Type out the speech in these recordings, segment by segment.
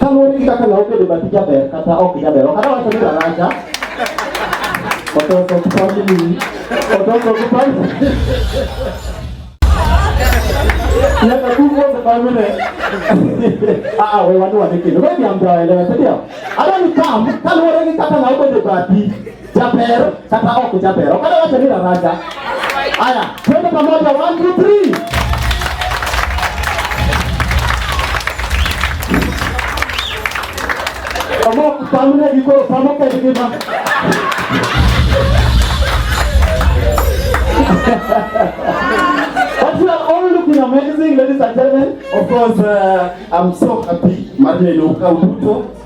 Kaluwore gi kaka law bedo bathi jaber kata ok jaber, ok adawacho ni raracha. Ototo kipande ni. Ototo kipande. Nyaka kuko kipande Ah, ah, we watu wanekele. Wewe ni ambaye leo, sio? Adani kam, kaluwore gi kaka law bedo bathi. Jaber kata ok jaber. Ok ada wacha ni raraja. Aya, twende pamoja 1 2 3. Kamu pamune diko pamu ke diko ma. But you are all looking amazing, ladies and gentlemen. Of course, uh, I'm so happy. Martin Luka Ubuto.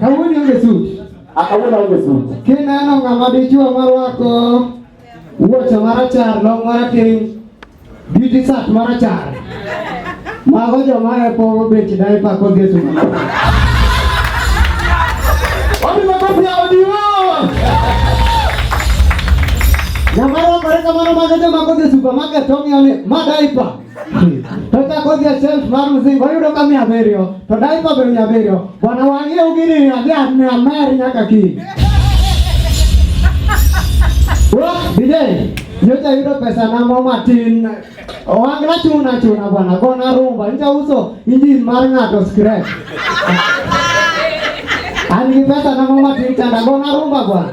Kawuono onge suti. Akawuono onge suti. Kineno ng'ama dichuo marwako Wuoche marachar, long marateng', beauty sat marachar. Mago joma e pogo bech daipa kodhi e tuma. Wapi makofi ya Odiwo? Nyamara kore kamano mago joma kodhi e supermarket ong'iyo ni ma daipa. totakothia self maruzingo yudo ka mia abiriyo to daipa be mia abiriyo bwana wang'e ugini adhi mia mer nyaka kiny bidei nyocha yudo pesa na mo matin owang'na chuna chuna bwana gona rumba nyocha uso injin mar ng'ato scrap an gi pesa na mo matin chanda gona rumba bwana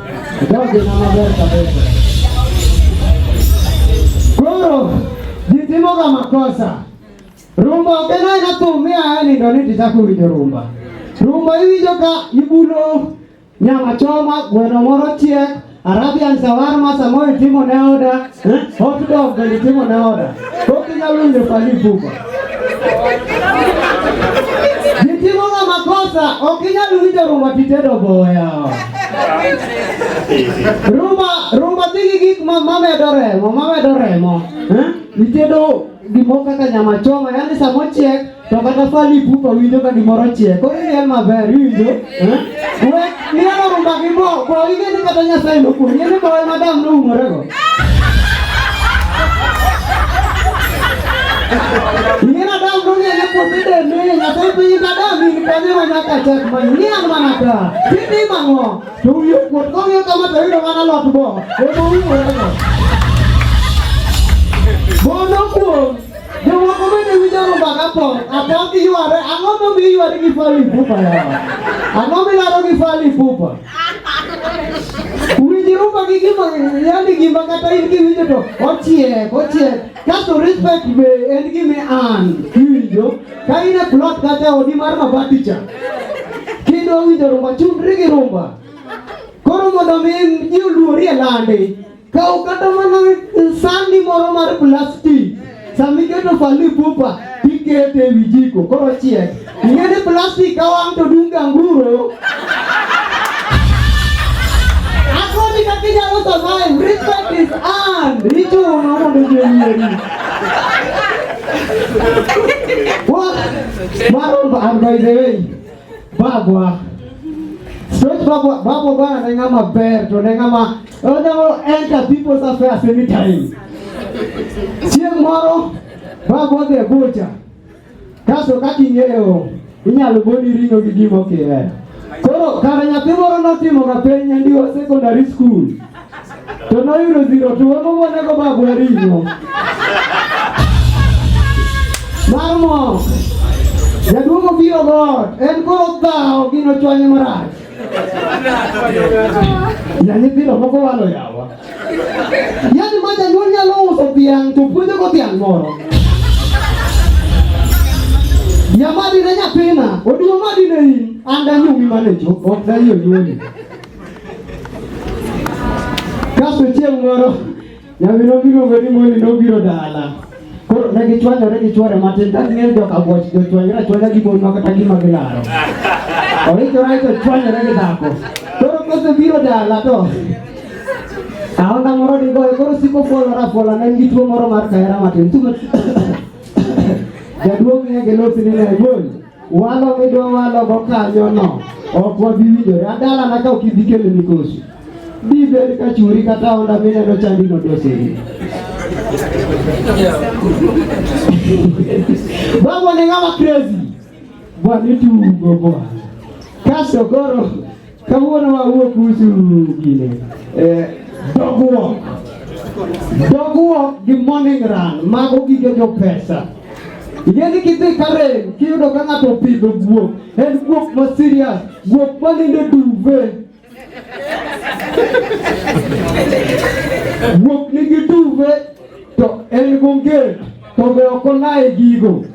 Koro jitimoga makosa rumba ogena ina thum miaye nindo ni tichako winjo rumba rumba iwinjo ka ibulo nyama choma gweno moro chiek arabian sawarma samoro itimo ne oda Eh? Hot dog alitimo na oda. Toki na lunde pali buba. Nitimo na makosa, okinya lunde rumba titedo boya. Rumba, rumba tigi gik ma mama edo remo, mama edo remo. Eh? Nitedo gimoko kaka nyama choma, yani samochiek To kata fali pupa winjo ka gimoro chiek. Koro iel maber, iwinjo? Eh? We, mielo rumba gi bo, bo ige ni kata Nyasaye nokuonyi, ni bo ema dam noumorego. Ing'ena dam nong'eyo puothe dende, Nyasaye piny ka dam in kanyo ma nyaka chak manyo, ni an mana ka. Timi mang'o? To wiye kuot, kong'iyo kama to yudo mana lot bo, ema oumorego. Bo nokuong'. Jomoko bende winjo rumba ka pok, apok giyware, ang'o momiyo iyware gi Fally Ipupa yawa? Ang'o milaro gi Fally Ipupa? Winj rumba gi gima, yani gima kata in kiwinjo to ochiek, ochiek. Kasto respect be en gima an kiwinjo, ka in e plot kata odi mar mabati cha, kidwa winjo rumba, chundri gi rumba. Koro mondo mi ji oluori e landi, Ka ukata mana sandi moro mar plastik sama iketo fali pupa tikete e wi jiko koro chiek. Ing'e ni plastik ka wang' to dung' ganguro. Akoni kaka inyalo survive. Respect is earned. Ichuno mondo ji oyieri. What? Maro, by the way. Bagwa. Straight bagwa, bagwa bwana nenga maber to nenga ma onyalo enter people's affairs anytime. Chieng' moro bagwa dhi e bucha. Kaso kaka ing'eyo inyalo goni ring'o gi gima ok ihero. Koro kara nyathi moro notimoga penj nyandiwa secondary school. to noyudo zero to wego monego bagwa ringo mar mok jaduong' obiro god en koro dhawo gino chwanye marach ya nyithindo moko walo yawa yani ma janyuol nyalo uso dhiang' to puonjogo dhiang' moro nyamadine nyathina oduong' madine in an danyumi mane cho ok dayi onyuoli Kasto chieng' moro nyamino miluongo ni Moni nobiro dala. Koro ne gichwanyore gi chwore matin ka ging'eyo joka bwoch jochwanyore achwanya gi mon makata gima gilaro. Oikore aiko chwanyore gi dhako. Koro kosebiro dala to aonda moro digoye koro siko fuolore afuola ne en gi tuo moro mar kahera matin. Jaduong' ng'e gi losi ni ne bol. Walo midwa walo go kanyo no ok wabi winjore adala na ka ok ibi kelo mikosi bi bed ka churi kata onda mineno chandi no doseri Bwana ni ng'ama crazy. Bwana tugo bwana. Kaso koro Kawuono wawuo kuhusu gine eh, dogruok dogruok gi morning run mago gige jo pesa Igeni kidhi Karen kiyudo ka ng'ato opidho guok, en guok ma serious, guok ma nindo duve. Guok nigi duve To en gonget to be ok onaye gigo.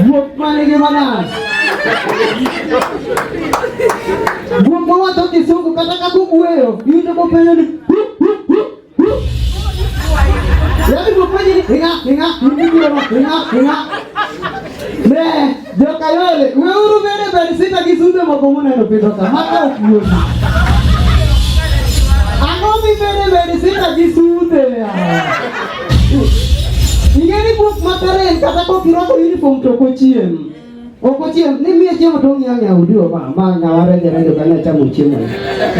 Guok mane gi manas. Guok mawacho kisungu kata ka kugweyo iwinjo kopenjo ni yaani guok penjo ni inga inga inga inga inga ne Jokayole, weuru bere bed sita gi sudo moko muneno pidho ka, maka ok yot. Ang'o mi bere bed sita gi sude? Ing'e ni buk makare en kata kok irwako uniform to ok ochiem. Ok ochiem, ni miye chiemo to ong'e ang'e udi oba, ma ng'awa renje renje ka ne chamo chiemo.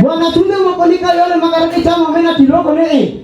Bwana tunde moko ni kayole makare kichamo mena tiloko ni eh.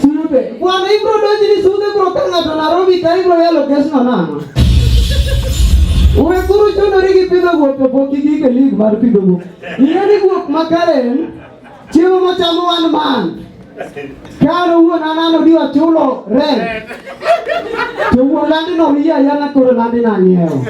Sulupe. Bwana hii bro doji ni sude bro tanga to Nairobi kai bro ya location na. Uwe kuru chono rigi pido go to poki gi ke league mar pido go. Ile ni go makaren. Chiwo mo chamu one man. Karo uwe na nano diwa chulo rent. To uwe landi no hiya yana koro landi na nyeo.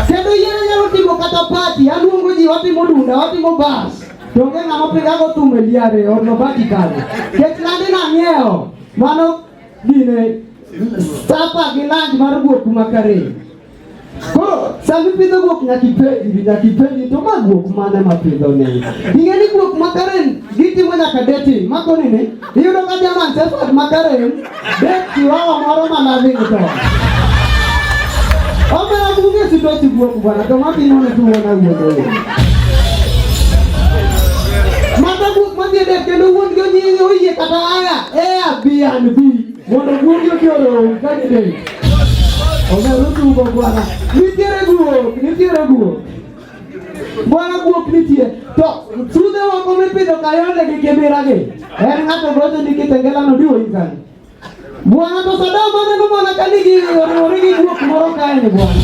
Kendo yeye nyalo timo kata party, aluongo ji watimo dunda, watimo bas. Donge ng'ama pigago thum e liare or nobaki kare. Kech landi nang'iewo. Mano dine sapa gi lanj mar guok makare. Koro sami pidho guok nyaki penji nyaki penji to ma guok mane ma pidho ni. Ing'e ni guok makare gitimo nyaka deti makoni ni Iyudo ka jaman sefat makarem bet kiwango moro ma loving to. Omera bunge sito chibuok bwana to matimo ne tuwo na wuodo wuodo. Mata buok madhi dek kendo wuon gi onyiye oyie kata aya ea bi an bi mondo wuon gi oki orom ka gidek. Omera tuwo bwana. Nitiere guok, nitiere guok. Bwana guok nitie to sudhe moko mipidho kayonde gi kibiragi en ng'ato gocho ni kitengelano diwo ikani bwana to sadam aneno mana ka nigi oriwore gi guok moro kaeni bwana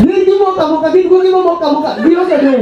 gin gimokamoka gin guogi momokamoka gionge del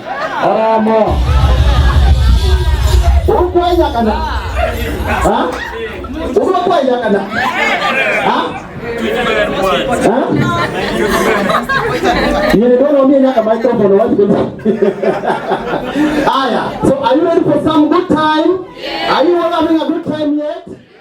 Aramo. Urukwaiza kana. Ha? Urukwaiza kana. Ha? Ha? Yeye ndio mimi nyaka microphone wapi kwa. Aya. So are you ready for some good time? Yes. Are you all having a good time yet?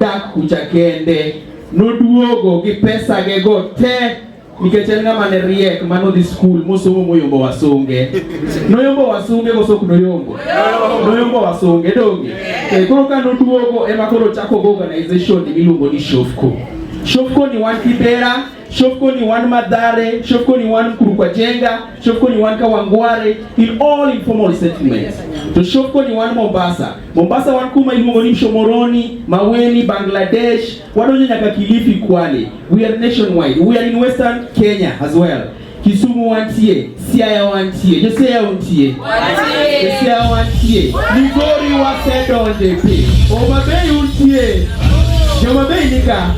dak kucha kende noduogo gi pesa ge go te nikech en ng'ama ne riek ma nodhi skul mosomo moyombo wasunge noyombo wasunge kosok noyombo noyombo wasunge donge e koro ka noduogo ema koro chako go organization miluongo ni shofco shofco ni wan kibera Shofco ni one Madhare, Shofco ni one Mkurukwajenga, Shofco ni one Kawangware in all informal settlements. To Shofco ni one Mombasa. Mombasa one kuma iluongo ni Mshomoroni, Maweni, Bangladesh, wadonjo nyaka Kilifi, Kwale. We are nationwide. We are in Western Kenya as well. Kisumu wantie, Siaya wantie, Josiaya wantie, Josiaya wantie, Migori wasedonje pi, Homa Bay untie, Joma Bay nika,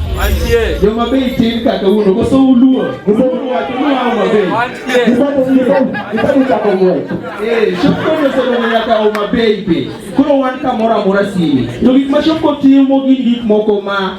Joma Bay tin kaka uno, koso uluo, uluo watu ni Homa Bay, eh, shopko nyosono nyaka Homa Bay pi, kuro wan kamora mora sini, to gik ma shopko timo gin gik moko ma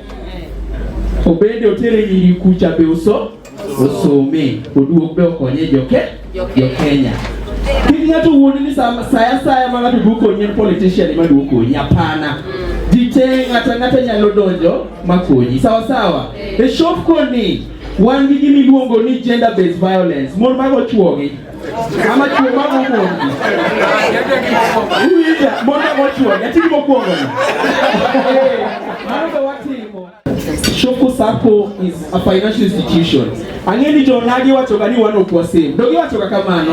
Obende otere nyiri kucha be uso osome oduok be okonye joke jokenya kik ng'ato wuondi ni sa- saya saya ma ng'ato duo konyi en politician ema duo konyi hapana ji te ng'ata ng'ata nyalo donjo ma konyi sawa sawa e shop koni wan gi gimiluongo ni gender based violence mon mago chwogi Ama chuo ma mokuongo. Uwinja, mondo mochuo, yatini mokuongo. Mano be watimo. Shoko Sacco is a financial institution. Ang'e ni jonagi wachoga ni wan ok wasave. Donge wachoga kamano?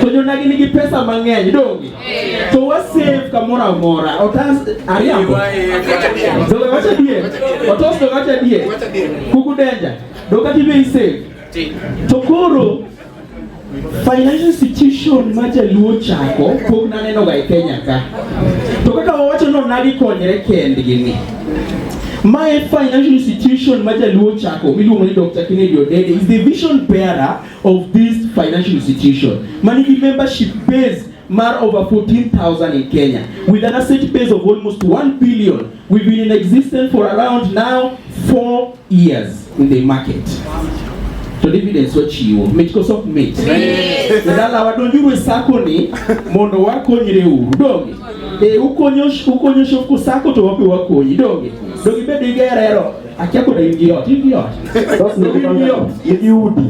To jonagi nigi pesa mang'eny, donge? To wasave kamoro amora. Otas ariambo. Donge wacha die. Otos donge wacha die. Kuku denja. Donge tibe isave. To koro Financial institution ma jaluo chako pok nanenoga e Kenya ka. To kaka wawacho no nadi konyre kendgi ni. Ma e financial institution ma jaluo chako miluongo ni Dr. Kennedy Odede is the vision bearer of this financial institution. Mani gi membership base mar over 14,000 in Kenya with an asset base of almost 1 billion We've been in existence for around now four years in the market. To dividends wachiwo mit koso ok mit dala wadonjuru e sako ni mondo wakonyre uru donge e ukonyo ukonyo shoku sako to wapi wakonyi donge donge bedo gi gerero akia koda in gi ot in gi ot in gi ot in gi udi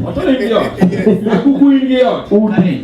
akuku in gi ot udi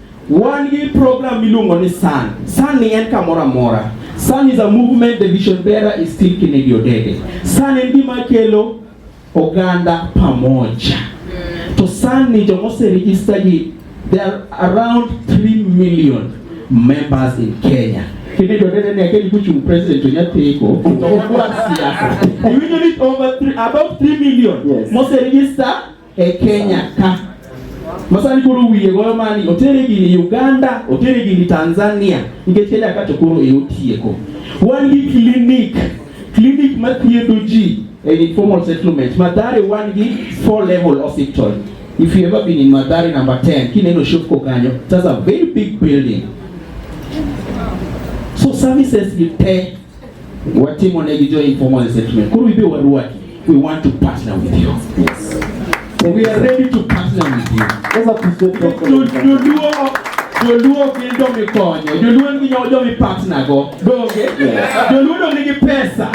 Wan gi program miluongo ni Sun. Sun ni en kamoro amora. Sun is a movement the vision bearer is still Kennedy Odede. Sun en gima kelo oganda pamoja. To Sun ni joma oseregister gi there are around 3 million members in Kenya. Kennedy Odede ne akeli kuchung president onyatheko okwa siasa. You know it over three, about 3 million yes. moseregister e Kenya ka masani koro wiye goyo mani otere gini Uganda otere gini Tanzania nikech Kenya ka to koro e otieko wan gi clinic clinic ma thiedho ji e informal settlement Mathare wan gi four level hospital if you ever been in Mathare number 10 kineno shop ko kanyo that's a very big building so services gi te Watimo ne gi jo informal settlement. Koro ibe waruaki. We want to partner with you. Yes. We are ready to partner with you. Sasa tusiwe joluo gin jomikonyo joluo nigi jomipatnago donge joluo dong nigi pesa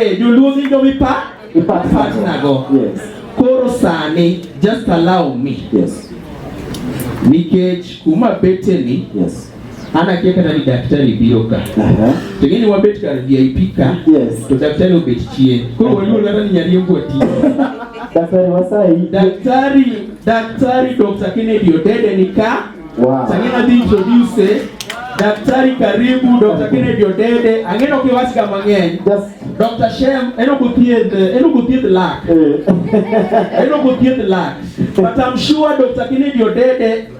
eh, joluo gin jomipatnago koro sani just allow me nikech kuma beteni An akia kata ni daktari biro ka. To ng'eni wabet kar VIP ka. Yes. To daktari obet chien. Koro waluor kata ni nyariembo ati. Daktari wasai. Daktari, daktari Dr. Kennedy Odede ni ka. Wow. Sangine adhi introduce eh? Daktari karibu Dr. Kennedy Odede. Ang'eno kiwach ka mang'eny. Just Dr. Shem, eno kuthieth, eno kuthieth lak. Eno kuthieth lak. But I'm sure Dr. Kennedy Odede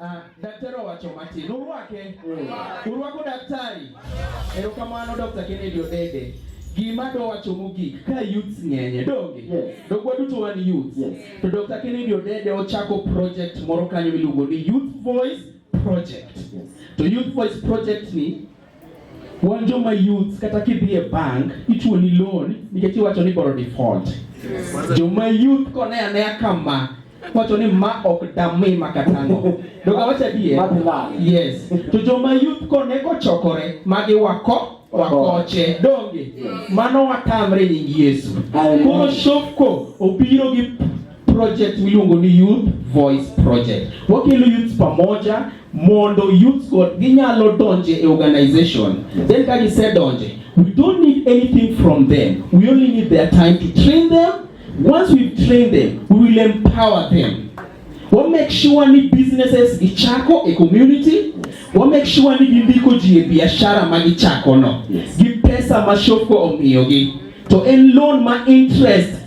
Ah, daktari owacho matin. Urwake. Urwako daktari. Erokamano Dr. Kennedy Odede. Gima do wacho mogik ka youths ng'enye donge yes. dogwa duto wan youths yes. to Dr. Kennedy Odede ochako project moro kanyo miluongo ni Youth Voice Project yes. to Youth Voice Project ni Wan joma youth kata kidhi e bank ichuo ni loan nikech iwacho ni boro default. Joma youth kone anea kama wacho ni ma ok dami makatano. Doga wacha die. Yes. To joma youth kone kochokore magi wako wakoche donge mano watamre nying Yesu. Koro shofko obiro gi project miluongo ni Youth Voice Project. Wakelo youths pamoja mondo youths go ginyalo donje e organization. Then ka gisedonje, we don't need anything from them. We only need their time to train them. Once we train them, we will empower them. We'll make sure ni businesses gichako e community. Yes. We'll make sure ni gindiko ji e biashara ma gichako no. Yes. Gi pesa ma shopko omiyogi. To en loan ma interest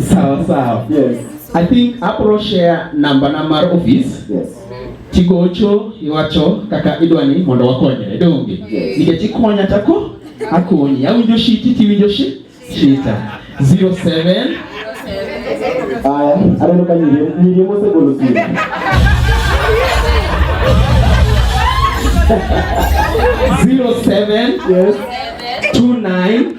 Sawa sawa. Yes. I think abro share number na mar office. Yes. Tigocho iwacho kaka idwani mondo wakonyre donge. Yes. Nikech ikonya tako akonyi. Awinjo shiti tiwinjo shi shita. 07 Aya, aneno ka nyiri nyiri mosegolo simu. Zero seven yes. two nine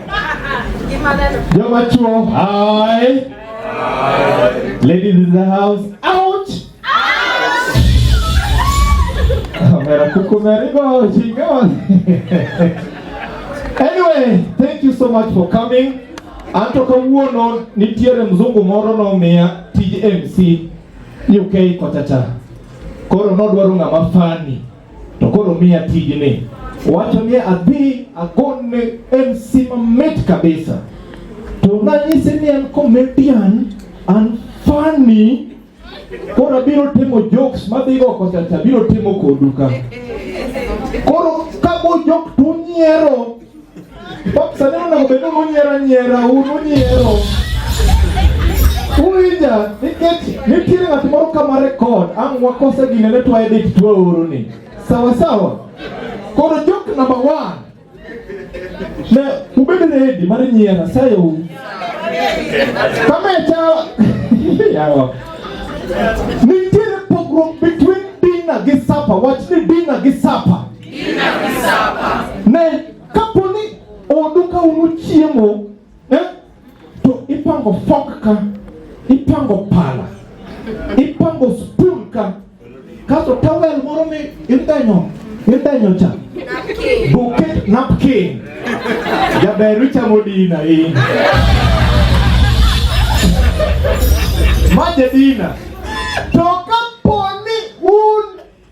Joma chuo, hi. Ladies in the house, out. Mera kuku merigo chingon. Anyway, thank you so much for coming. Anto kawuono nitiere mzungu moro nomiya tij MC UK kochacha. Koro nodwaro ng'ama fani To koro miya tijni. Wacho ni adhi agonne MC mamit kabisa. To nanyise ni an comedian, an funny. Koro abiro timo jokes madhigo kochacha, abiro timo kodu ka. Koro kabo jok to unyiero Sanana obedo nonyiero anyiera un unyiero uwinja nikech nitiere ng'at moro kama rekod ang' wakose gine ne twaye dich twaoro ni sawa sawa koro jok namba one ne ubedo redi mar nyiera sayo kama cha yawa nitiere pogruok between dina gi sapa wach ni dina gi sapa Men kapo ni odu ka unu chiemo eh, to ipango fok ka ipango pala ipango spoon ka kasto towel moro mi idenyo idenyo cha buket napkin jaber ichamo dina in ma jadina to kapo ni un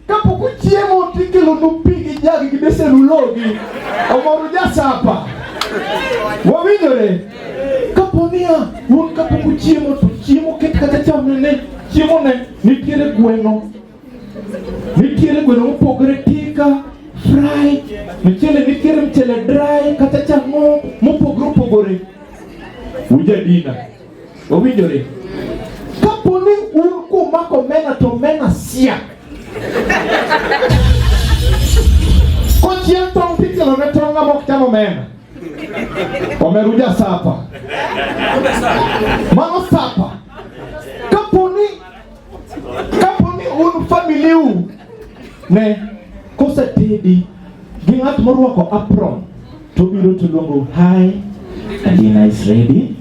Kapok uchiemo tikelonu pi gi jagi gi besen ulogi omoro jasapa. Wawinjore? Kapo niya un kapok uchiemo to chiemo ket kata chamne ne chiemo ne nitiere gweno nitiere gweno mopogore tika fry mchele nitiere mchele dry kata chang'o mopogore opogore ujadina Owinjore. Kapo ni un kumako omena to omena siak. Kochiel tong' tikelo ne tong' ng'ama ok cham omena. Omeru ja sapa. Mano sapa. Kapo ni un familiu ne kosetedi gi ng'at morwako apron to biro to luongo hi Adina is ready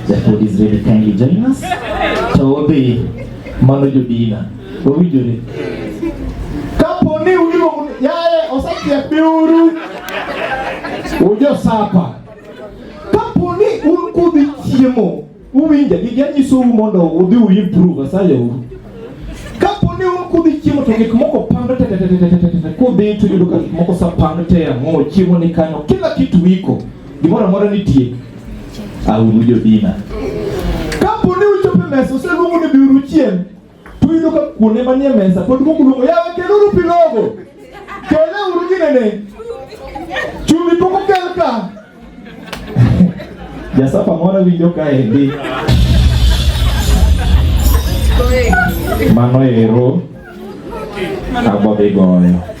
the food is ready kindly join us to odhi mano jodina owinjore kapo ni uliluongo yaye osechiek biuru ujo sapa kapo ni un kudhi chiemo Uwinja gi janyisou mondo udhi uimprove asaya u. Kapo ni un kudhi chiemo to gik moko pando te te te te te te kudhi to yudo ka gik moko sa pando te ang'o chiemo ni kanyo kila kitu iko gimoro amora nitie au jodina. Kapo ni uchope mesa useluongo ni biuru chiem Tuyudo ka kuonde manie mesa pod moko luongo yawe keluru pi logo. Kele uru ginene. Chumbi pok okel ka. Jasafa moro winjo ka endi. Mano ero abodhi goyo.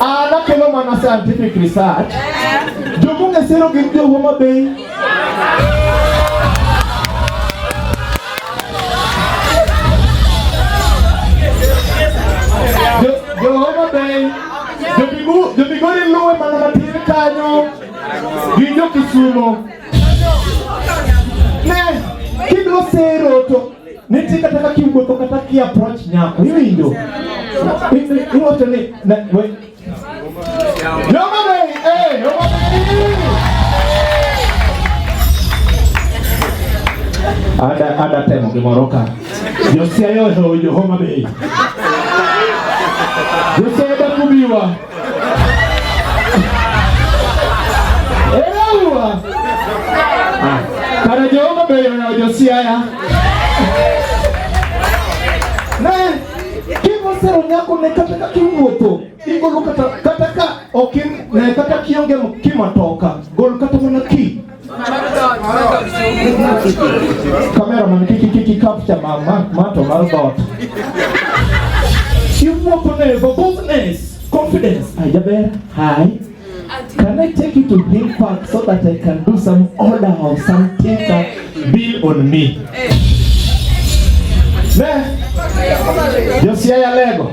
Ah, nakelo mana scientific research. Jomunge sero gin jo Homa Bay. Jo Homa Bay. Jo Bigu, jo Bigori luwe mana matin kanyo. Gin jo Kisumo. Ne, kidwa sero to Niti kata ka kiwuotho kata ki approach nyako iwinjo. Iwacho ni Ada ada temo gimoro ka. Josia yo yo Homa Bay. Josia da kubiwa. Elewa. Ah, kana Jehova beyo na Josiaya. Ne, kimo sero nyako ne kata ka kiwuotho, igolo kata kata ka okin ne kata kionge kima toka, gol kata mana ki. Cameraman kiki kiki capture ma ma mato mar dot. Iwuoko ne for boldness, confidence. Ajaber, hi. Can I take you to Hill Park so that I can do some order of some tinker bill on me? Ne? Josia ya lego.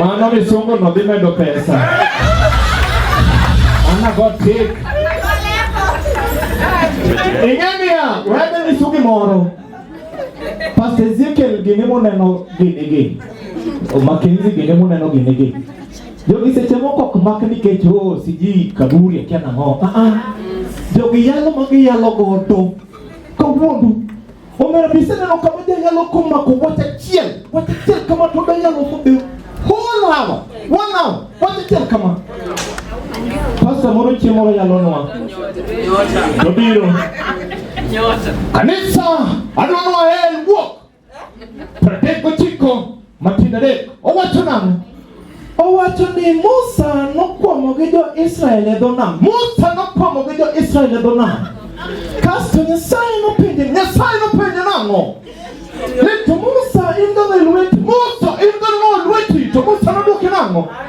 Mano misungu no dhi medo pesa. Ana go tik. Ing'eniya, wede nyisu gimoro. Pastor Ezekiel gini muneno gini gi. Makenzi gini muneno gini gi. Jogi seche moko ok mak nikech o oh, siji kaburi akia nang'o. Ah, ah. Jogi yalo ma giyalo godo. Kawuodu. Omera bise neno kama janyalo komako wach achiel. Wach achiel kama to danyalo fodeo. Whole hour. One hour. Wach achiel kama. Pasta moro chiemo yalo nwa. Nobiro. Kanisa adwa nwa hell walk. Pradek ochiko matindo adek. Owacho nang'o? Owacho ni Musa nokwamo gi jo-Israel e dho nam. Musa nokwamo gi jo-Israel e dho nam. Kasto Nyasaye nopenje, Nyasaye nopenje nang'o? Ni to Musa in gang'o e lweti? Musa in gang'o e lweti? To Musa nodwoke nang'o?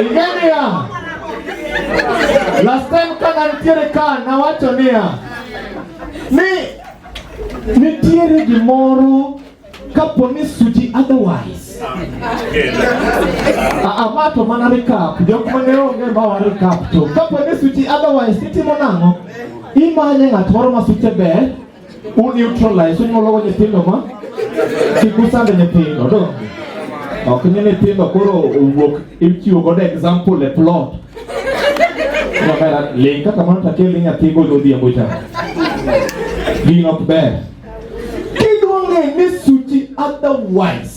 Ingenia. Last time kana nitiere ka nawacho niya ni nitiere gimoro kapo ni suji otherwise ama to mana recap jok mane onge ma wa recap to kapo ni suji otherwise itimo nang'o imanye ng'at moro ma suche ber U neutralize unyuolo go nyithindo ma kik usand nyithindo to ok ni nyithindo koro owuok ichiwo godo example e plot kamera ling kaka mano to akel nyathi go odhiambo cha gin ok ber kiduonge ni suchi otherwise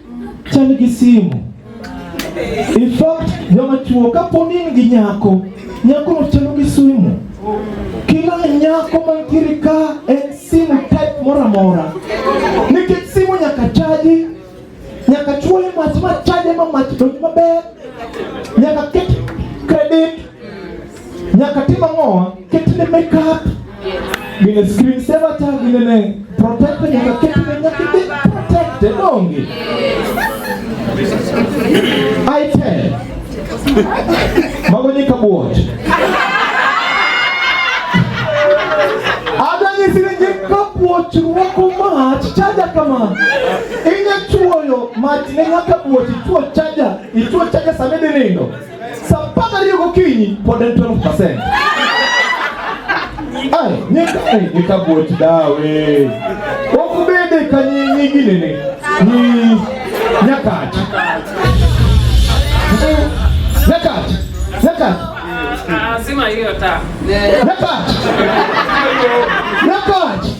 chal gi simu. In fact, joma chuo kaponi in gi nyako, nyako no chalo gi simu. Kila nyako mantiere ka en simu type moro amora. Nikech simu nyaka chaji, nyaka chuoye mach ma chaje ma mach donj maber, nyaka ket credit Nyaka tim ang'owa? Ketne makeup. Gine screen saver ta gine ne protector nyaka ketne nyaka be protected donge. I tell. Mago nyika buoch. Adwa nyisi ni nyika buoch ruoko mach chaja kama. Inya chuoyo mach ne nyaka buoch ichuo chaja, ichuo chaja samedi nindo. Sasa mpaka leo gokinyi pod en 12%. Ai, nyeka eh, nyeka bot dawe. Okubede kanyi nyingine ne. Ni nyakati. Nyakati. Nyakati. Ah, sima hiyo ta. Nyakati.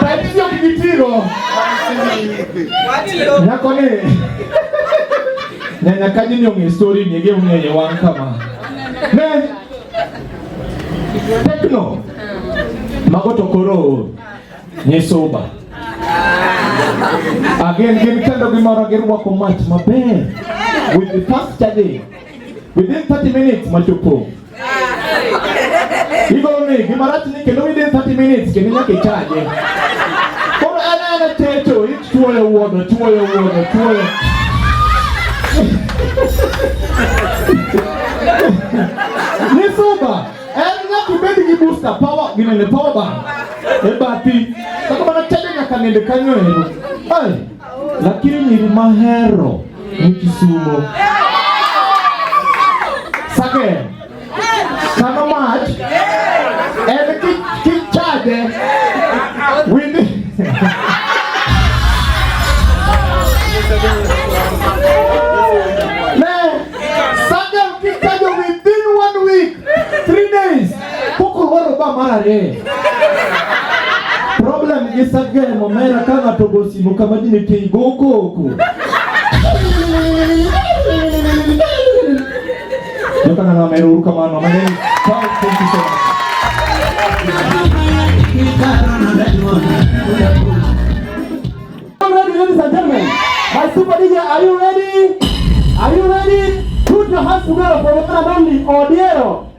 Taipsio kijitiro. Nyako ni. Nyanya kaji ni ong'e story ni ege ong'e wang kama. Ne. Tekno. Mago to koro nyisoba. Again, gin kendo gimoro girwako mach maber. With the first charging. Within 30 minutes, machopo. Hivyo ni kimarati ni kendo within 30 minutes kendo nyaka ichaje. Koro ana ana techo ichuoyo wuodo chuoyo wuodo chuoyo. Ni suba en nyaka ibed gi booster power ginene power bank. E bathi. Kaka mana chaje nyaka nende kanyo ero. Ai. lakini nyiri mahero ni Kisumo. Sake kano mach en kichade windi ne sake kikajo within one week three days Poko waro ba mare. Problem gi sagel mo mera ka ng'ato go simu kama dine tei go koko. Yo kana na meru kama no mane. Thank you so much. My super DJ, are you ready? Are you ready? Put your hands together for the one and only Odiero.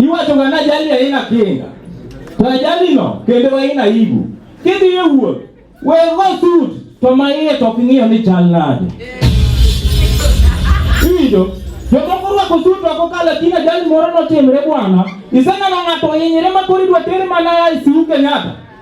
Iwacho ngana jali aina kinga. To jali no kendo aina ibu. Kidhi e wuoth, we go suit to ma iye to ok ing'iyo ni chal nade. Iwinjo? Jomoko orwako suit to kokalo e kina jali moro notimre bwana. Iseneno ng'ato ohinyre ma koro idwa tere mana e ICU Kenyatta.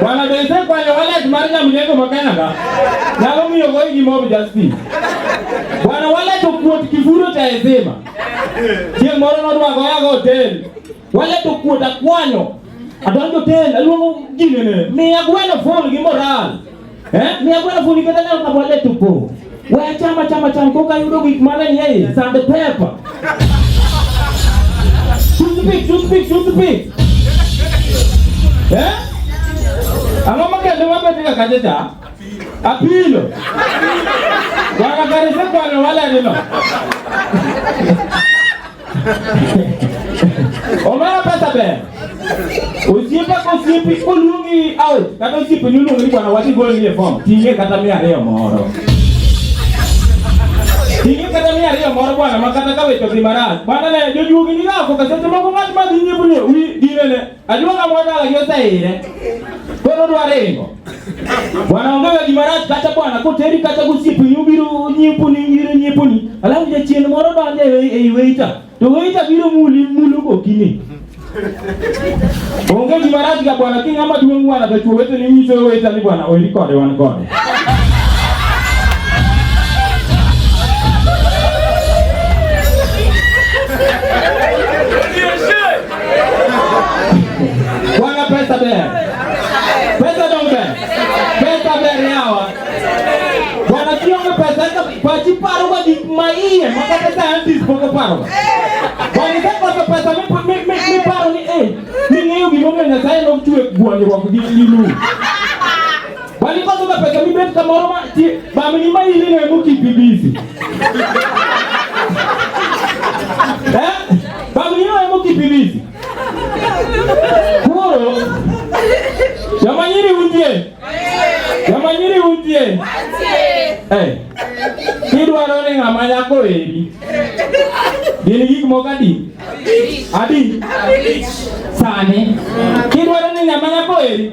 Bwana bense kwa yo wallet mar nyamjengo ma Canada. Nyalo miyo goyi gi mob justice. Bwana wallet okuot kifuro cha ezema. Chieng' moro nodwago yago hotel. Wallet okuot akwanyo. Adonjo hotel aluongo ginene. Miya gweno full gi moral. Eh, mi akwenda funika tena na wale tupo. Wewe chama chama chama koka yudo gik mane ni yeye sande pepa. Toothpick, toothpick, toothpick. Eh? Ang'o ma kendo mabet ga kacha cha? Apilo. Wakakarisa kwano wale nino. omera pesa ber osiepe ka osiepe koluongi out kata osiepe ni oluongi ni bwana wadhi golni e fom ting'e kata mia ariyo moro ting'e kata mia ariyo moro bwana ma kata ka weche odhi marach bwana ne jojuogi ni gako kaseche moko ng'at ma dhi nyiepo ni wi dinene Ajuoga mwana ayosa ire. Kono dwarengo. Bwana ongaga gima rach kata bwana koteri kata gosiepe nyubiro nyipuni nyiro nyipuni. Alafu jachien moro donjo ei weita. To weita biro muli mulu gokini. Onge gima rach ga bwana ki ng'ama duong' bwana to chuo wete ni nyiso weita ni bwana oiri kode wan kode. Bwana pesa bere. Pesa donge. Pesa bere yawa. Bwana kionge pesa ka kwa chiparo kwa dik maiye maka pesa anti spoko paro. Bwana ka kwa pesa mi mi mi paro ni eh. Ni ng'eyo gimomiyo Nyasaye nochwe gwanyruok gi lilu. Walipata na pesa mimi beti kama roma ti ba mimi mai ile na muki bibizi. Eh? Ba mimi na muki bibizi. Kuro. Yamanyiri undie. Yamanyiri undie. Eh. Kidwa rone ngama yako eri. Dini gik moko adi? Adi. Sani. Kidwa rone ngama yako eri.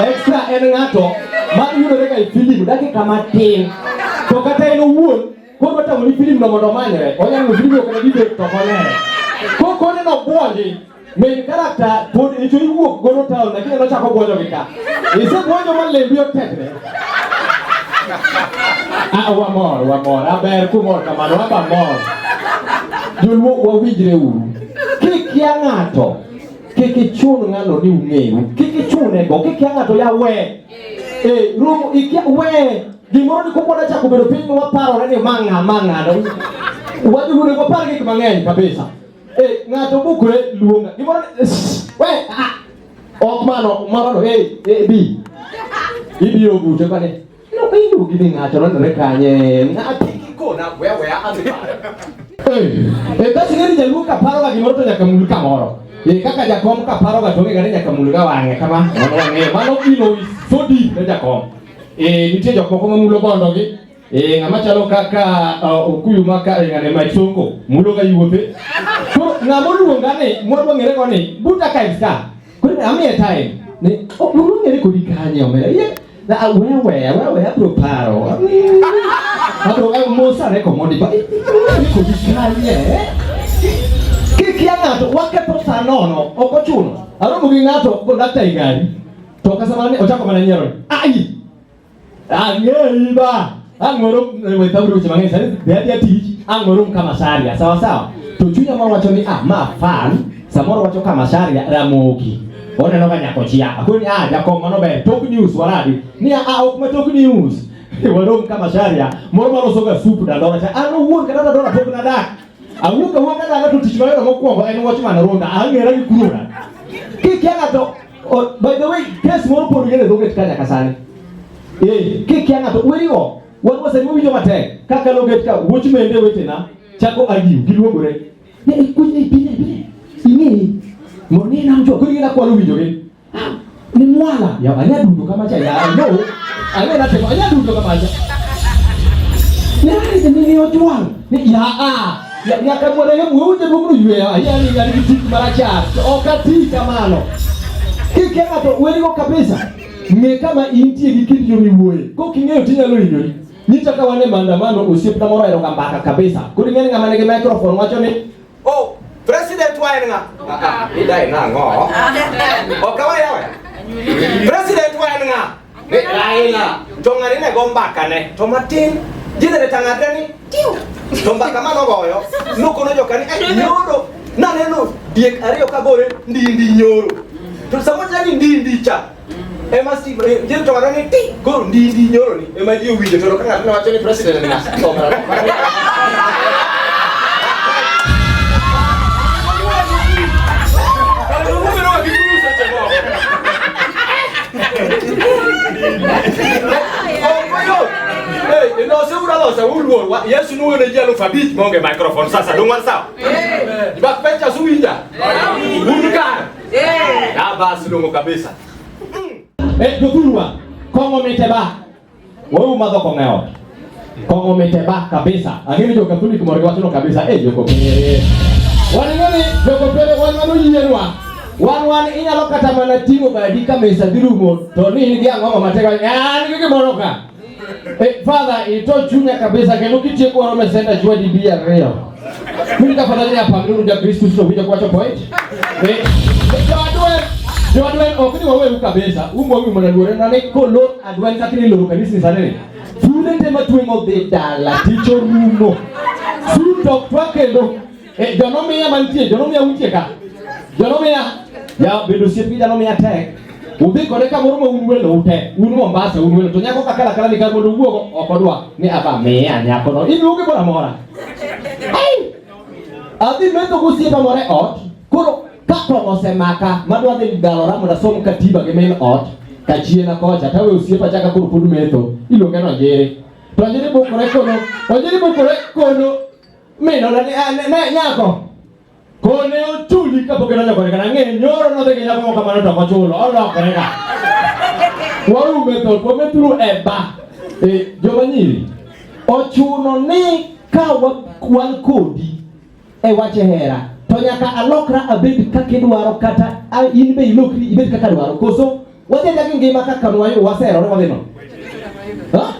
Extra en ng'ato ma yudore ga e filim dakika matin to kata en owuon koro watang'o ni filim no mondo omanyre onyalo ni filim okna dibet to konere ko kone no buonji min karakta pod icho iwuok gono taon lakini nochako buonjo gi ka isebwonjo ma lembi otekre Ah, one more, one more. Aber kumor kamano, aba mor. Joluo wawinjre uru. Kik ya ng'ato. Kik ichun ng'ano ni ung'eyu. Kik ichune go. Kik ya ng'ato ya we. Eh, rum ikia we. Gimoro ni kumbo na chako bedo piny waparore ni mang'a mang'a. Wadi wude kwa pargi kama ng'eny kabisa. Eh, ng'ato bukure luonga. Gimoro ni we. Ah. Ok mano, mano hey, hey, bi. Ibi ogute kane. No pindu gini ngacho nandore kanye. Ngati kiko na wewe ati pare. Eh, eh basi ngani jaluo kaparo ga gimoro to nyaka mul kamoro. Eh kaka jakom kaparo ga tonge gane nyaka mul ga wang'e kama. Mano wang'e, mano kilo so deep ne jakom. Eh nitie jok moko ma mulo bondogi Eh ngama chalo kaka uh, okuyu maka e ngane mai songo mulo ga yuote. Ko ngama luonga ni mwadwa ngere ko ni buta ka iska. Ko ami e time. Ni o oh, mulo ngere ko di kanye omera. Ye na ah, wewe wewe abro paro. Abro eh, musa re ko modi ba. Ko di kanye. Kikia ngato wakepo sanono okochuno. Aromo gi ngato ko dakta igari. To kasamane ochako mana nyiero. Ai. Angeiba. Angoro we tabu cha mangesa. Dadi ati angoro kama sharia. Sawa sawa. Tuchunya mwa wacho ni ah ma fan. Samoro wacho kama sharia ramogi. Ona no kanya kochia. Akuni ah jakomo no be top news waradi. Ni ah ok ma top news. Warom kama sharia. Moro maro soga supu da dora cha. Ano wuon kana dora top na da. Awuka wuon kana ga tutishwa yo mokwongo en wach man ronda. Angera gi kurura. Kiki ana to Oh, by the way, case moro pon yele doge tkanya kasani. Eh, ke kya ngato werigo. Wan wase mu winjo mate. Kaka loge tka wuch mende wetena. Chako agiu giluogore. Ne ikunye ipine ipine. Ini moni na mjo kuri na kwa winjo ge. Ah, ni mwala. Ya anya dundu kama cha ya. No. Anya na tema anya dundu kama cha. Ne ni ni otwang. Ni ya ah. nyaka mondo ne wuote bugru yweyo ahinya ni ng'ani gi tik marachar to ok ati kamano kikia ng'ato werigo kabisa ng'e kama intie gi kindi yo miwuoye kok ing'eyo tinyalo hinyori nyita ka wan e maandamano osiepna moro aheroga mbaka kabisa koro ing'eni ng'ama nigi microphone wacho ni o oh, president wa en ng'a ah, ah, idai nang'o ok awayawe president wa en ng'a Ne Raila, to ng'ani ne go mbaka ne, to matin, jine ne tang'adre ni, tiu, to mbaka mano goyo, nukono jokani, eh, nyoro, naneno diek ariyo ka gore, ndi ndi nyoro. To sama jani ndi ndi cha, ema si jil to ng'ato ni ti go ndi ndi nyoro ni ema ji owinjo to ka ng'ato ne wacho ni president ni ng'ato to ng'ato Eh, no se ura lo se uru wa Yesu nu ne jelo fa bit mo nge microphone sasa dong wan sao. Eh. Ba pecha su inja. Uru ka. Eh. Ya basi dong kabisa. Eh, dokulwa. Kongo meteba. Wewe umadho kong'eo. Kongo miteba kabisa. Lakini joka tuli kumori watu no kabisa eh joko pere. Wani ngani joko pere wani ngani yiyenwa. Wan wan inyalo kata mana ting'o badi ka mesa dhi rumo to ni in gi ang'o ma mateka ah ni gimoro ka. Eh, father ito chunya kabisa kendo kitieko oro mesenda chwadi bi ariyo. Mimi nitafanya nini hapa? Mimi ndio Kristo sio kuja kuacha point. Eh. Ndio adwe. Ndio adwe okuni wewe ukabeza. Umbo mimi mwana dore na neko lo adwe kakini lo kanisa sana. Tule tema tuengo de dala ticho mumo. Su tok twake lo. Eh, jonomi ya mantie, jonomi ya untie ka. Jonomi ya ya bedo siepi jonomi ya tek. Udhi kode ka moro ma un welo ute, un Mombasa, un welo to nyako kakala kala ni ka mondo wuogo okodwa ni aba miya nyakono. Iluonge moro amora. Hey! Adhi metho gosiepa moro e ot, koro ka kong'o osemaka madwa dhi dalora mondo asom katiba gi min ot kachiena kocha tawe osiepa chaka koro pod metho iluonge no njere to njere bokore kono onjere bokore kono minona ah, nyako Kone ochuli ka pok idonjo kode kata ang'e nyoro nodhi gi nyako moko kamano to ochulo olokore ka. Waume thoth wamethuru e ba. E joma nyiri ochuno ni ka wan kodi e wach hera to nyaka alokra abed kaka idwaro kata in be ilokri ibed kaka dwaro koso wadhi gi ngima kaka waserore wadhi no. Ha?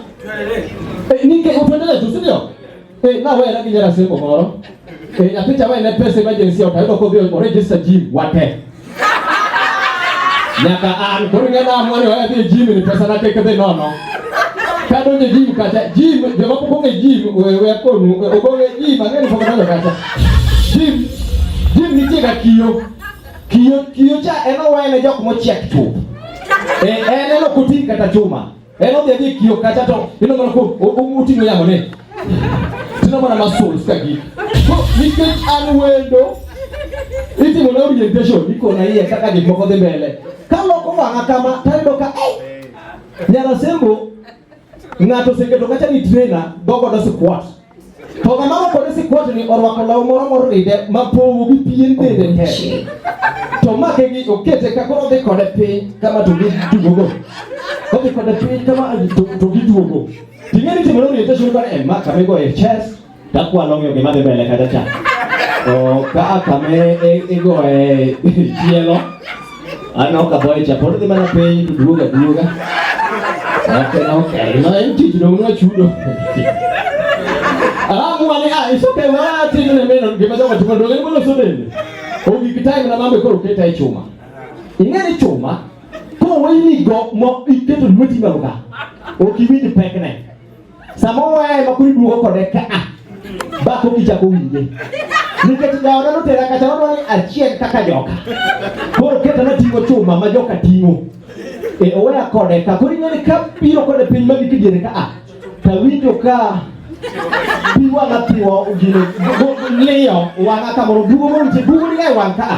Eh, Nike utwendeleze, si ndio? Eh, na wera gi nyara simo moro. Eh, nyathi cha wene pesa emergency ota yudo kodhi o register gym wate. Nyaka an koro ng'e na amwani oya dhi e gym ni pesa na tek dhi nono. Ka donje gym kacha, gym joma pok ong'e gym wewe akonu, ogole gym ang'e ni pok odonjo kacha. Gym, gym nitie ga kiyo. Kiyo, kiyo cha en owene jok mochiek chuth. Eh, en eno kutin kata chuma. En odhi adhi kio kacha to ino mana ko uting'o yamo ni. Tino mana muscles ka gi. So nikech an wendo itimo na orientation iko na iye kaka gik moko dhi mbele. Ka loko wang'a kama tayudo ka eh. Nyara sembo ng'ato oseketo kacha ni trainer dogo dosi kwat. To ng'ama orwako ni sikwatni orwako law moro moride ma powo gi pien dende te. To make gi okete ka koro odhi kode piny kama to giduogo. Odhi kode piny kama to giduogo. Ting'e ni timo orientation kore en ma kama igoye chest takwalo ng'eyo gima dhi mbele kacha cha. To ka kama igoye tielo Ano ah, kaboy chapor di mana piny duoga duoga. Okay, okay. No en tich no uno chudo. Ah, mwane ah, iso pe wa tich ne meno gima jogo timo dogo ni mono sodeni. Ogi kitai na mambe koro keta e chuma. Ing'e ni chuma ko wayini go mo iketo lweti malo ka. Okiwinj pekne. samoro wayaye ma kuri duogo kode ka a bako kichako winje nikech jaoda notera kacha wadwa ni achiel kaka joka koro keta nating'o chuma ma joka ting'o e oweya kode ka koro ing'eni ka biro kode piny ma gik diere ka a tawinjo ka pi wang'a thiwo gino liyo wang'a kamoro duogo moriche duogo ni e wang' ka a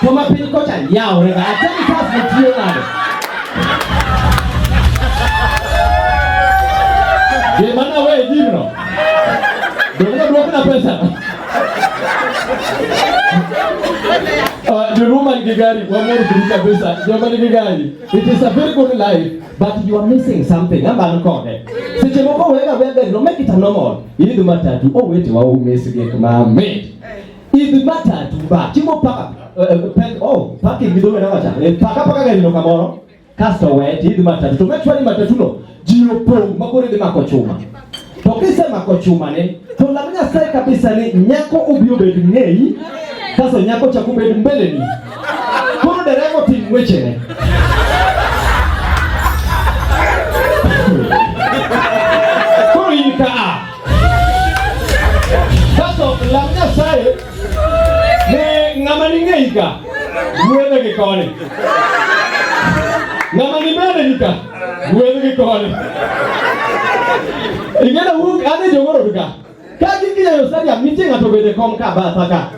To ma piny kocha yawre ga. Atani kas ne tiyo nade. Ye mana we jimno. Donge duok na pesa. Uh, the woman Gigari, one more Brita Besa, Germany Gigari. It is a very good life, but you are missing something. I'm uncorded. Seche moko wega wega, no make it a normal. Ili dumatatu, oh wait, wa umesi gek ma made. Idh bata tumba. Chimo paka. Eh, eh, pen, oh, paki gidome na wacha. Eh, paka paka gari no kamoro. Kasto we idh bata. To mechwa ni bata tuno. Jio pong makore de mako chuma. To kise mako chuma ne. To la mna sai kabisa ni nyako ubio bed ngei. Sasa nyako cha kubed mbele ni. Kono derego tim weche ne. Kaso lam Nyasaye ne ng'ama ning'eyi ka gwedhe gi koni, ng'ama nimeneni ka gwedhe gi koni. Ing'eyo wuok ane jogoro ka ka gikiyayo sariya miting'a to bende kom ka batha ka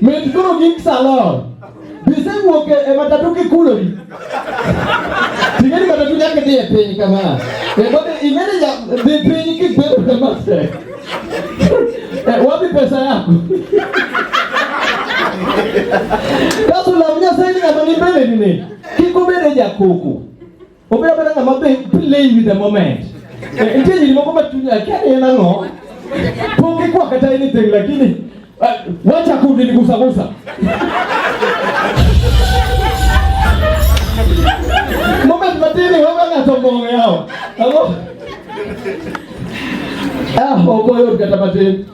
Mit koro gin salon. Gisewuok e matatu kikulori. Ting'eni matatu nyaka dhi e piny kama. Kendo ing'eni dhi piny kibedo kama se. Eh, wapi pesa yako? Kaso lam Nyasaye ni ng'ama ni mbele ni ne. Kik obed e jakoko. Obedo abeda ng'ama be play with the moment. Eh, nitie nyiri moko ma chunya akia ni en ang'o. Pok ikwa kata anything lakini eh, wacha kundi ni gusa gusa. Moment matini wewe ng'ato mbong'o yao. Ang'o? Ah, ogoyo kata matin.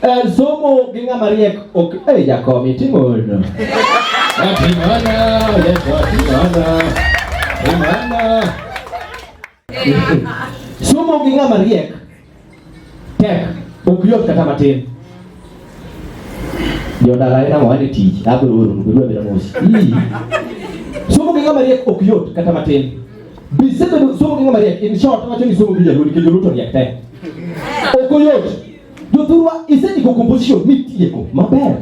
Eh, somo gi ng'ama riek ok eh jakom itimono. Atimana, yeso atimana. Atimana. Somo gi ng'ama riek tek ok yot kata matin. Jodala ina mwa ni tich abro oro ndugu abira mosi. Somo gi ng'ama riek ok yot kata matin. Bisebedo somo gi ng'ama riek, in short wacho ni somo gi jaluo nikech joluo to riek te. Ok oyot. Jothurwa isendiko composition mitieko maber.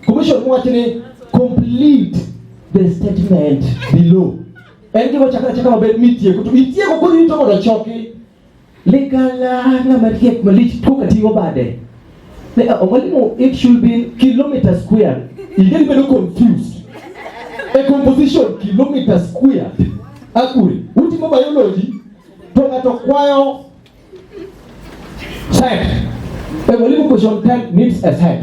Composition mowacho ni complete the statement below. En gima chakra chakra maber mitieko to itieko koro ito mondo choki Ligala na mariek malich pok atigo bade. Ne omwalimu it should be kilometer square. Ingeni bedo confused. A composition kilometer square. Akuri, utimo biology to ng'ato kwayo set. A mwalimu question 10 needs a set.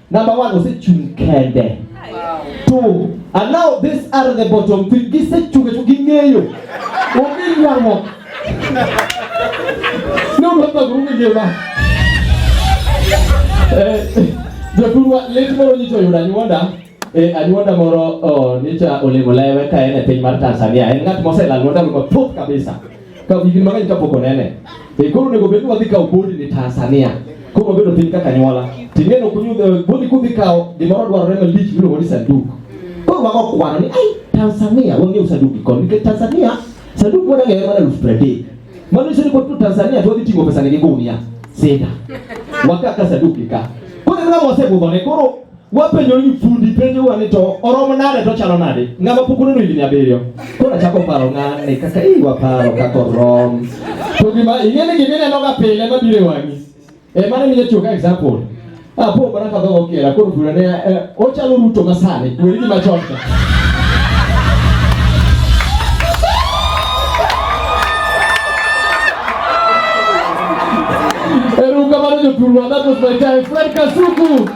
Number one, osechung' kende. Two, and now these are the bottom three. Gisechung' e chung' ging'eyo. Onge ywaruok. Ne uruaka guru ngima. Joturwa lit moro nyicha oyudo anyuonda e anyuonda moro nyicha olemo lewe ka en e piny mar Tanzania. En ng'at moselal mondo kabisa. ka higni mang'eny kapok onene e koro onego bed ni wadhi kawo bodi ni Tanzania koro wabedo piny kaka nyuola ting'eno kunyudho eh, bodi kudhi kawo gimoro dwarore malich miluongo ni sanduk koro wago kwano ni ai Tanzania wang'eyo sanduk gikon nikech Tanzania sanduk mwana ng'eyo mana elfu pradek mano nyiso ni kod to Tanzania to wadhi ting'o pesani gi gunia sida wakaka sanduk gi ka koro en ng'ama osebudhone koro wapenjo ni fundi penjo wani to oromo nade to chalo nade ng'ama pok oneno higni abiriyo koro achako paro ng'ane kaka ii waparo kaka orom to gima ing'e ni gima inenoga pile mabiro e wang'i e mane minya tiyo ka example ah po bana ka dhogo kera koro fura ne eh, ochalo ruto masani weri gima chon ka Eruka mano joturwa, that was my time. Fred Kasuku!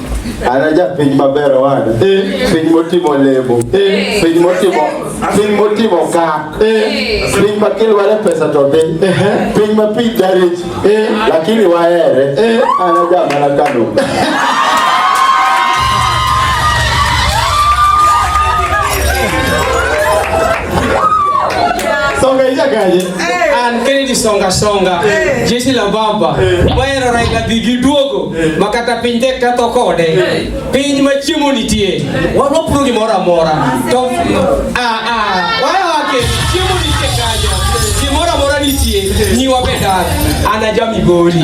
Anaja piny maber wana. Piny motimo lebo. Piny motimo piny motimo ka. Piny ma kilware pesa to dhi. Piny ma piny darich. Lakini wahere. Anaja mana kano. Songa ija kaje. An Kennedy Songa Songa. Jeshi la Baba. Waero Raila Digi Duogo. makata piny tek katho kode piny ma chiemo nitie wapuro gimoro amora to wayawake chiemo nitie kanyo gimoro amora nitie nyiwa be dak an aja migori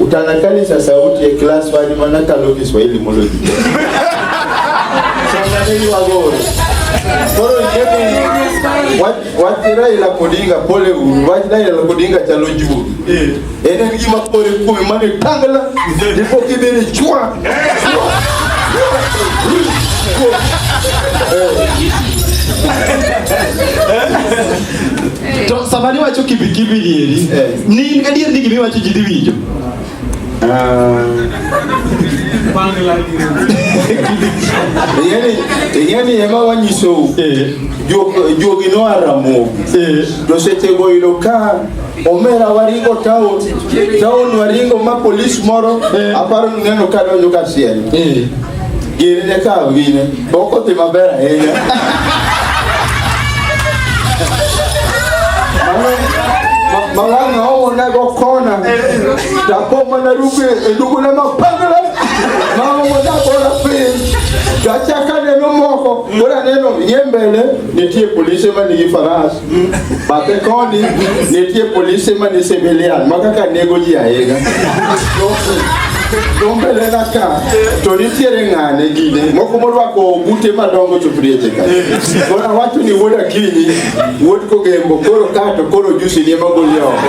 Utanakalisha sauti ya class wani maana kalo Kiswahili mulo. Sanganeni wagoro. Koro ikebe watira ila kodinga pole uru, watira ila kodinga chalo juu. Eh. Ene ngi mapore kumi mane tangala, ndipo kibere chua. Eh. To sama niwacho kibikibi nieri, eh. ni adier ni gima iwacho ji dhi winjo. Ah. ing'eni ema wanyisou eh. jogi noa Ramogi eh. to sechego yudo ka omera waringo town town waringo ma polis moro aparo neno kadonjo ka siel Gini ne kawo gine, boko dhi maber ahinya. Malanga hao wanago kona takoma na ruke endugu na mapangala mama mwanako na pili tachaka neno moko bora neno yembele nitie polisi ma nigi farasi Bathe koni nitie polise ma ni civilian ma kaka nego ji ahinya. Dombele na ka to nitiere ng'ane gine moko morwako ogute madongo choprieche ka. Koro awacho ni wuod Akinyi, wuod Kogembo koro ka to koro jusi ni ema goli oko.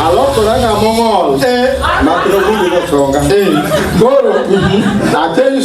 Alokora ng'ama ong'ol mak nogulu notonga. Koro atenyo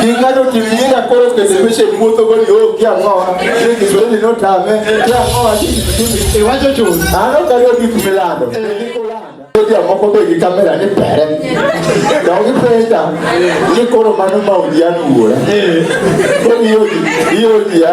King'ado timinyinga koro kesebeche muotho go ni oh kia ngoa. Ni Kiswahili no tame. Kia ngoa ni ni iwacho chuo. Ano karo gik milando. Kia moko be gi kamera ni pere. Da gi peta. Ni koro mano ma udianu wuora. Koro yo yo ya.